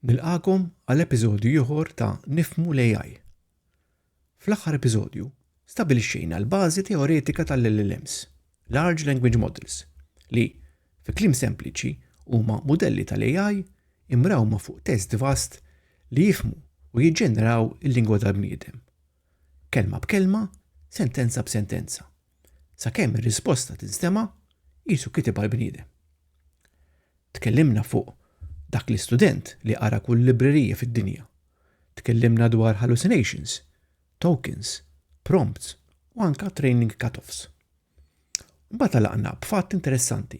Nilqakom għal episodju ieħor ta' Nifmu l-AI. Fl-aħħar episodju, stabilixxejna l-bażi teoretika tal-LLMs, Large Language Models, li, fi klim sempliċi, huma modelli tal-AI imrawma fuq test vast li jifmu u jiġġeneraw il-lingwa tal-bniedem. kelma b'kelma, sentenza b'sentenza, sakemm ir-risposta tinstema' qisu kitibha l-bniedem. Tkellimna fuq dak l-istudent li qara kull librerija fid-dinja. Tkellimna dwar hallucinations, tokens, prompts u anke training cut-offs. Mbagħad għalaqna b'fatt interessanti.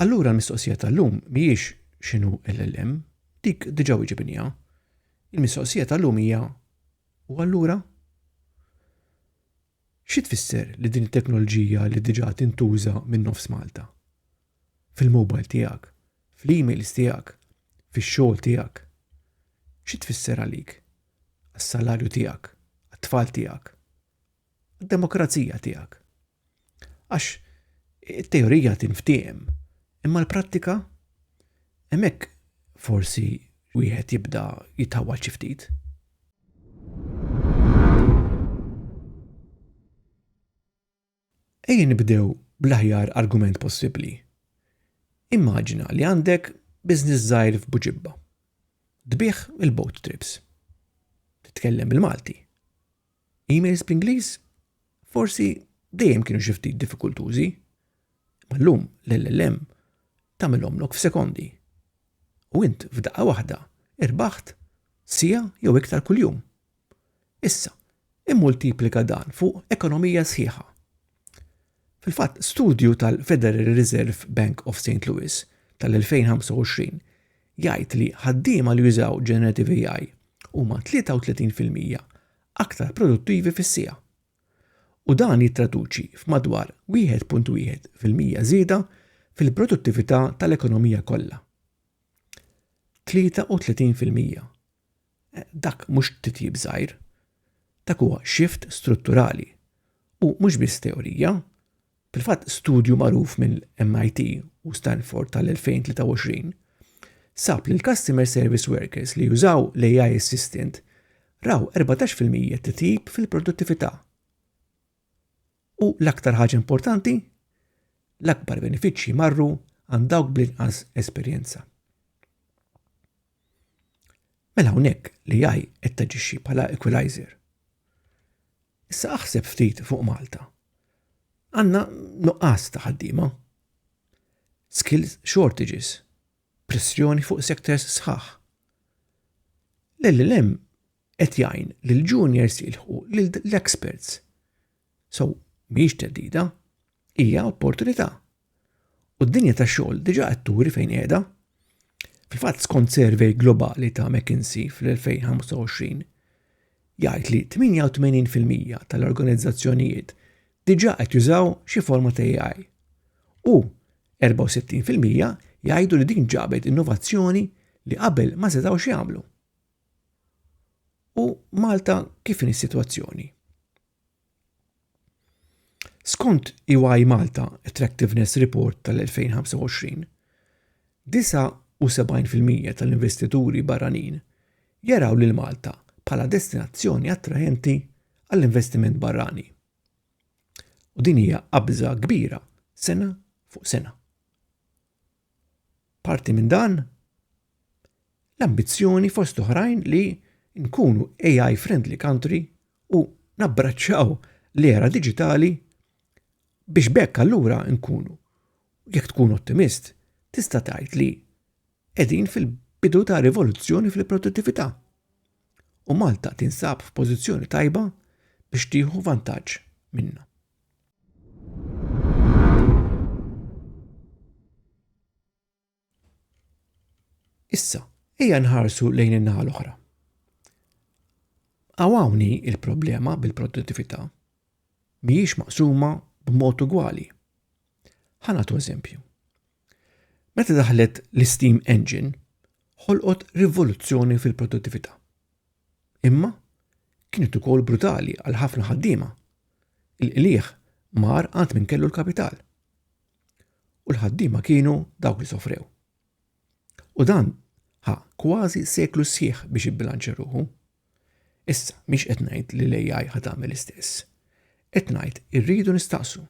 Allura l-mistoqsija tal-lum mhijiex x'inhu LLM, dik diġà wieġibniha. Il-mistoqsija tal-lum hija u allura? Xi tfisser li din it-teknoloġija li diġà tintuża minn nofs Malta? Fil-mobile tiegħek, fl-emails tiegħek, fix-xogħol tiegħek. Xi tfisser għalik? Għas-salarju tiegħek, għat-tfal tiegħek, għad-demokrazija tiegħek. Għax it-teorija tinftiehem, imma l-prattika hemmhekk forsi wieħed jibda jitħawwal xi ftit. Ejja nibdew bl-aħjar argument possibbli. Immaġina li għandek biznis żgħir f'Buġibba. Tbih il-boat trips. Titkellem bil-Malti. Emails bl-Ingliż forsi dejjem kienu xi ftit diffikultużi, ma llum l-LLM tagħmilhom lok f'sekondi. U int f'daqqa waħda irbaħt sija jew iktar kuljum. Issa, immultiplika dan fuq ekonomija sħiħa. Fil-fatt, studju tal-Federal Reserve Bank of St. Louis tal-2025 jgħid li ħaddiema li jużaw Generative AI huma 33% aktar produttivi fis-siegħa u dan jittraduċi f'madwar 1.1 fil-mija żieda fil-produttività tal-ekonomija kollha. 33 fil-mija Dak mhux titjib żgħir. Dak huwa shift strutturali. U mhux biss teorija. Fil-fatt studju magħruf mill-MIT u Stanford tal-2023 sab li l-customer service workers li jużaw l-AI assistant raw 14% titjib fil-produttività. U l-aktar ħaġa importanti, l-akbar benefiċċji marru għand dawk bl-inqas esperjenza. Mela hawnhekk l-AI qed taġixxi bħala equalizer. Issa aħseb ftit fuq Malta. Għandna nuqqas ta' ħaddiema. Skills shortages. Pressjoni fuq sectors sħaħ. L-LLM qed jgħin lil juniors jilħqu lil l-experts So, mhijiex teddida, hija opportunità. U d-dinja ta' xogħol diġà qed turi fejn qiegħda. Fil-fatt skont survey globali ta' McKinsey fl-2025 jgħid li 88% tal-organizzazzjonijiet diġà qed jużaw xi forma ta' AI. U 64% jgħidu li din ġabet innovazzjoni li qabel ma setgħux jagħmlu. U Malta kif in is-sitwazzjoni? Skont EY Malta Attractiveness Report tal-2025, 79% tal-investituri barranin jaraw lil Malta bħala destinazzjoni attraenti għall-investiment barrani, u din hija qabża kbira sena fuq sena. Parti minn dan, l-ambizzjoni fost oħrajn li nkunu AI friendly country u nabbraċċaw l-era diġitali biex bekk allura nkunu. Jekk tkun ottimist, tista' tgħid li qegħdin fil-bidu ta' rivoluzzjoni fil-produttività. U Malta tinsab f'pożizzjoni tajba biex tieħu vantaġġ minna. Issa, ejja nħarsu lejn in-naħa l-oħra. Għawni il-problema bil-produttività mhijiex maqsuma b'mod ugwali. Ħanatu eżempju. Meta daħlet l-Steam Engine, ħolqot rivoluzzjoni fil-produttività. Imma kienet ukoll brutali għal ħafna ħaddiema. Il-qliħ mar għand min kellu l-kapital. U l-ħaddiema kienu dawk li sofrew. U dan ħa kważi seklu sħiħ biex ibbilanċa ruħu. Issa, miex qed ngħid li l-AI ħad tagħmel istess. Qed ngħid irridu nistaqsu.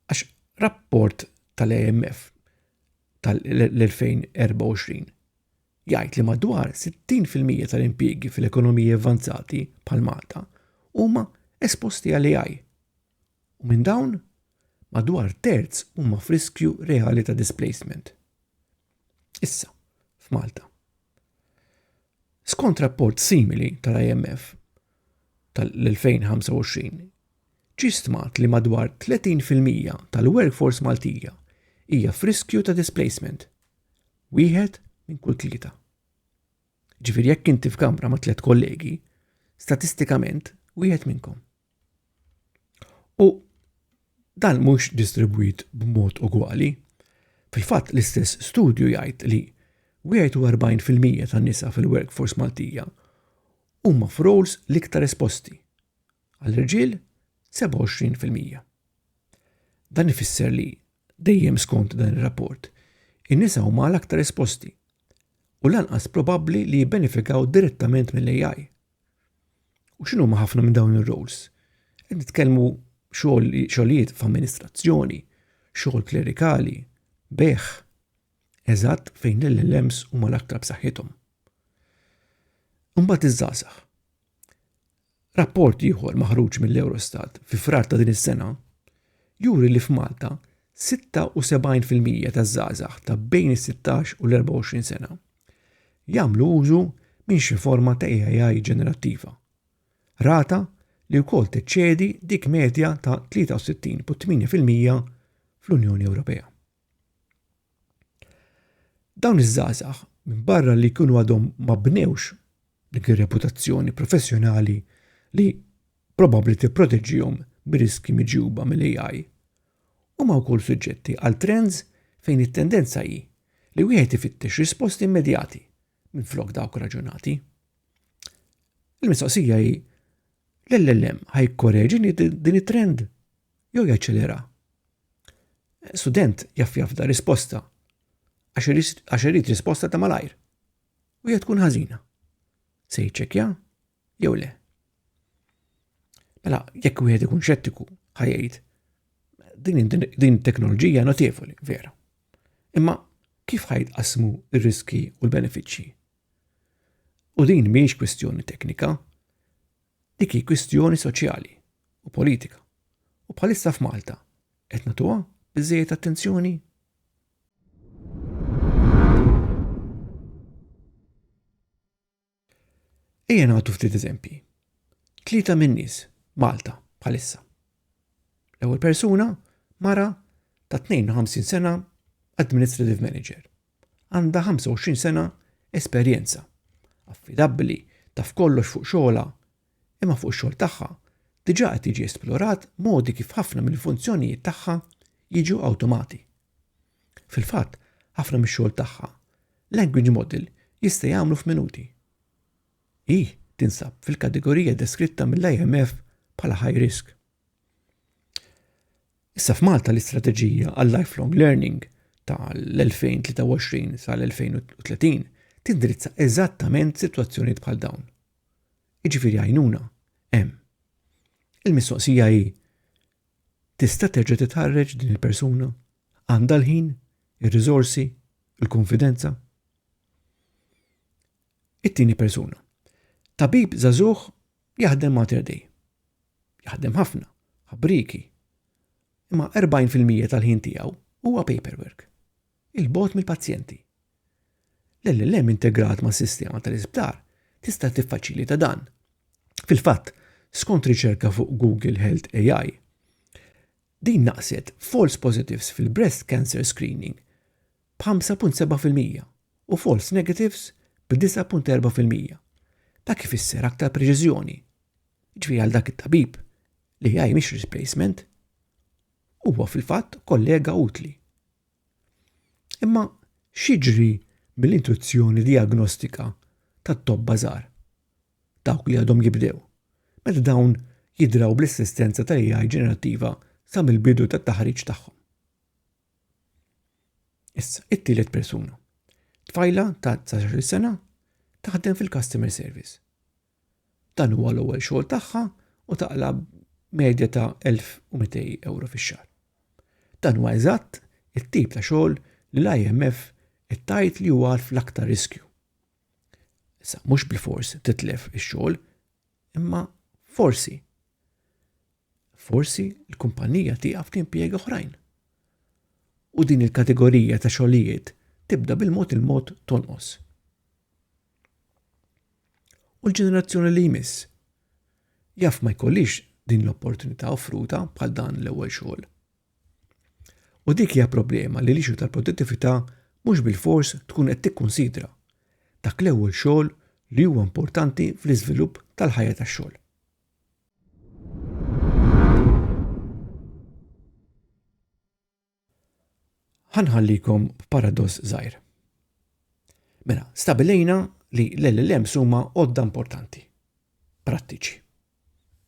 Għax rapport tal-AMF tal-2024 jgħid li madwar 60% tal-impjiegi fil-ekonomiji avvanzati bħal Malta huma esposti għal AI u minn dawn madwar terz huma f'riskju reali ta' displacement. Issa, f'Malta. Skont rapport simili tal-IMF tal-2025, ġi stmat li madwar 30% tal-workforce Maltija hija f'riskju ta' displacement. Wieħed minn kull tlieta. Ġifieri jekk inti f'kamra ma' tliet kollegi, statistikament wieħed minnkom. U dan mhux distribwit b'mod ugwali. Fil-fatt l-istess studju jgħid li 41% tan-nisa fil-workforce Maltija huma f'roles l-iktar esposti. Għall-irġiel 27%. Dan ifisser li Dejjem skont dan ir-rapport, in-nisa huma l-aktar esposti u lanqas probabbli li jibbenefikaw direttament mill-AI. U x'inhuma ħafna minn dawn ir-roles? Qed nitkellmu xogħlijiet f'amministrazzjoni, xogħol klerikali, beħ, eżatt fejn l-LLMs huma l-aktar b'saħħithom. Imbagħad iż-żgħażagħ. Rapport ieħor maħruġ mill-Eurostat fi frar ta' din is-sena juri li f'Malta 76% taż-żgħażagħ ta' bejn is-16 u l-24 sena jagħmlu użu minn xi forma ta' AI ġenerattiva, rata li wkoll teċċedi dik medja ta' 63.8% fl-Unjoni Ewropea. Dawn iż-żgħażagħ minbarra li jkunu għadhom ma bnewx dik ir-reputazzjoni professjonali li probabbli tipproteġihom mir-riskji miġjuba mill-ai huma wkoll suġġetti għal trends fejn it-tendenza hi li wieħed ifittex risposti immedjati minflok dawk raġunati il-mistoqsija hi l-llm ħa jikkoreġi din it-trend? jew jaċċelera. Student jaf jafda risposta għax irid risposta ta' malajr. U hija tkun ħażina. Se jiċċekkja jew le. Mela, jekk wieħed ikun xettiku ħajjid, din teknoloġija notevoli, vera. Imma kif ħajt qasmu ir-riski u l-benefiċċji? U din mhijiex kwistjoni teknika, dik hi kwistjoni soċjali, u politika. U bħalissa f'Malta qed nagħtuha biżejjed attenzjoni? Ejja nagħtu ftit eżempji. Tlieta minn nies Malta bħalissa. L-ewwel persuna mara ta' 52 sena administrative manager. Għandha 25 sena esperjenza. Affidabbli taf kollox fuq xogħla imma fuq ix-xogħol tagħha, diġà qed jiġi esplorat modi kif ħafna mill-funzjonijiet tagħha jiġu awtomati. Fil-fatt, ħafna mix-xogħol tagħha, language model jista' jagħmlu f'minuti. Hi tinsab fil-kategorija deskritta mill-IMF bħala high risk. Issa f'Malta l-istrateġija għal lifelong learning tal-2023 sal-2030 tindirizza eżattament sitwazzjonijiet bħal dawn. Jiġifieri għajnuna hemm. Il-mistoqsija hi tista' terġa' titħarreġ din il-persuna? Għandha l-ħin, ir-riżorsi, il-konfidenza? It-tieni persuna. Tabib żagħżugħ jaħdem Mater Dei. Jaħdem ħafna, ħabriki. Imma 40% tal-ħin tiegħu huwa paperwork. Il-bot mill-pazjenti, L-LLM integrat mas-sistema tal-isptar tista' tiffaċilita dan. Fil-fatt, skont riċerka fuq Google Health AI, din naqset false positives fil-breast cancer screening b'5.7 fil-mija u false negatives b'9.4 fil-mija. Dak ifisser aktar preċiżjoni. Ġifieri għal dak it-tabib, l-AI mhix replacement, huwa fil-fatt kollega utli. Imma xiġri mill-intuzzjoni diagnostika tat-tobba żgħar? Dawk li għadhom jibdew. Meta dawn jidraw bl-assistenza tal-AI ġenerattiva sa mill-bidu tat-taħriġ tagħhom. Issa, it-tielet persuna. Tfajla ta' 19 sena taħdem fil-customer service. Dan huwa l-ewwel xogħol tagħha u taqla' medja ta' 1200 euro fix-xahar. Dan huwa eżatt it-tip ta' xogħol li l-IMF qed tgħid li huwa fl-aktar riskju. Issa mhux bilfors titlef ix-xogħol, imma forsi forsi l-kumpanija tieqaf timpjega oħrajn. U din il-kategorija ta' xogħlijiet tibda bil-mod il-mod tonqos. u l-ġenerazzjoni li jmiss. Jaf ma jkollix din l-opportunità offruta bħal dan l-ewwel xogħol. U dik hija problema li l-ixu tal-produttività mhux bil-fors tkun qed tikkunsidra dak l-ewwel xogħol li huwa importanti fl-iżvilupp tal-ħajja tax-xogħol. Ħanħallikom b'paradoss żgħir. Mela, stabilejna li l-LLMs huma għodda importanti, prattiċi.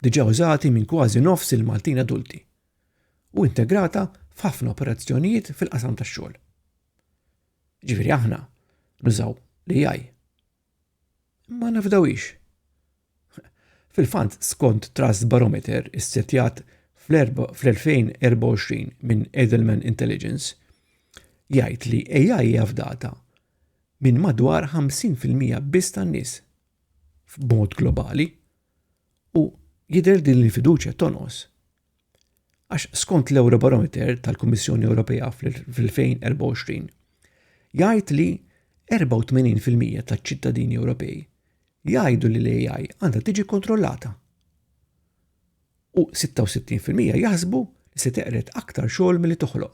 Diġà użati minn kważi nofs il-Maltin adulti u integrata f'ħafna operazzjonijiet fil-qasam tax-xogħol. Ġifieri aħna nużaw l-AI Ma nafdawhiex. Fil-fatt, skont Trust Barometer issettjat fl-2024 minn Edelman Intelligence, jgħid li AI hija fdata minn madwar 50% biss tan-nies f'mod globali u jidher din il-fiduċja tonqos Għax skont l-Eurobarometer tal-Kummissjoni Ewropea fl-2024 jgħid li 84% taċ-ċittadini Ewropej jgħidu li l-AI għandha tiġi kontrollata. U 66% jaħsbu li se teqred aktar xogħol milli toħloq.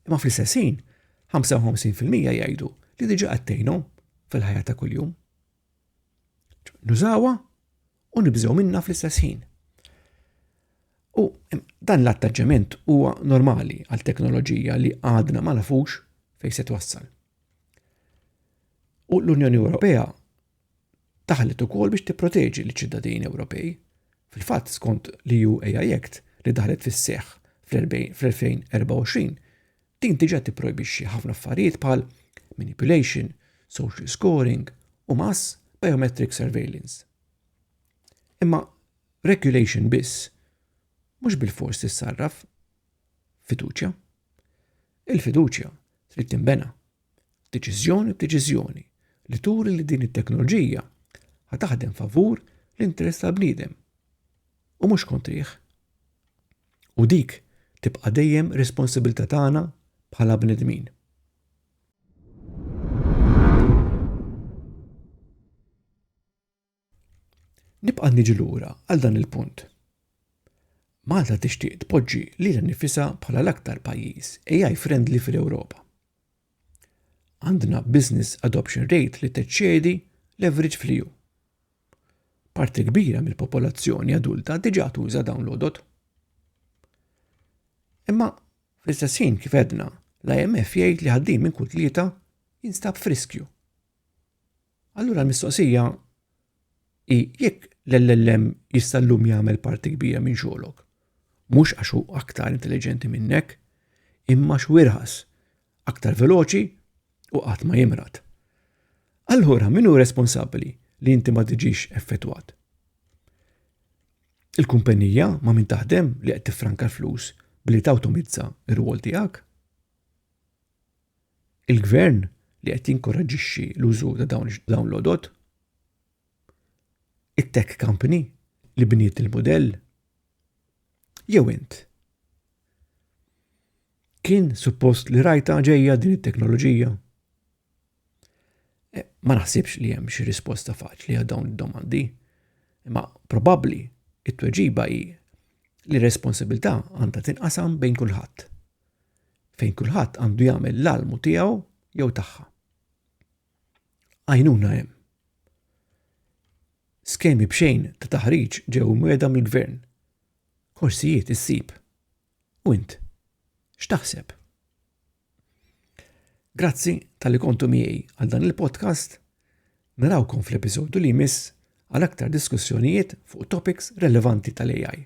Imma fl-istess ħin, 55% jgħidu li diġa qattejnhom fil-ħajja ta' kuljum. Nużawha u nibżgħu minna fl-istess ħin. U dan l-attaġġament huwa normali għal teknoloġija li għadna ma nafux fejn se twassal. U l-Unjoni Ewropea taħlet ukoll biex tipproteġi l-ċittadini Ewropej. Fil-fatt skont li ju AI Act li daħlet fis-seħħ fl-2024 Din diġà tipprojbixxi ħafna affarijiet bħal manipulation, social scoring u mass biometric surveillance. Imma regulation biss mhux bil-fors tissarraf fiduċja. Il-fiduċja trid tinbena deċiżjoni b'deċiżjoni li turi li din it-teknoloġija ħa taħdem favur l-interess tal-bniedem u mhux kontrih. U dik tibqa' dejjem responsabilità tagħna bħala bnedmin. Nibqa' niġi lura għal dan il-punt. Malta tixtieq tpoġġi lilha nnifisha bħala l-aktar pajjiż AI friendly fil-Ewropa. Għandna business adoption rate li teċċedi l-average fl-EU. Parti kbira mill-popolazzjoni adulta diġà tuża dawn l-għodod. Imma fl-istess ħin kif għedna, l-IMF jgħid li ħaddiem minn kull tlieta jinstab friskju. Allura l-mistoqsija hi jekk l-LLM jista' llum jagħmel parti kbira minn xogħlok. Mhux għax hu aktar intelligenti minnek, imma xwirħas, aktar veloċi u qatt ma jimrat. Allura min hu responsabbli li inti ma tiġix effettwat? Il-kumpanija ma min taħdem li qed tifranka l-flus billi tawtomizza r-rwol tiegħek? Il-gvern li qed jinkoraġġixxi l-użu ta' dawn l-għodod? It-tech company li bniet il-mudell? Jew int? Kien suppost li rajta ġejja din it-teknoloġija? Eh, ma naħsibx li hemm xi risposta faċli għal dawn id-domandi, imma probabbli it-tweġiba hi li responsabilità għandha tinqasam bejn kulħadd. fejn kulħadd għandu jagħmel l-almu tiegħu jew tagħha. Għajnuna hemm. Skemi bxejn ta' taħriġ ġew mweda mill-gvern. Korsijiet issib. U int, x'taħseb? Grazzi tal-li kontu miegħi għal dan il-podcast. Narawkom fl-episodju li jmiss għal aktar diskussjonijiet fuq topics relevanti tal-AI.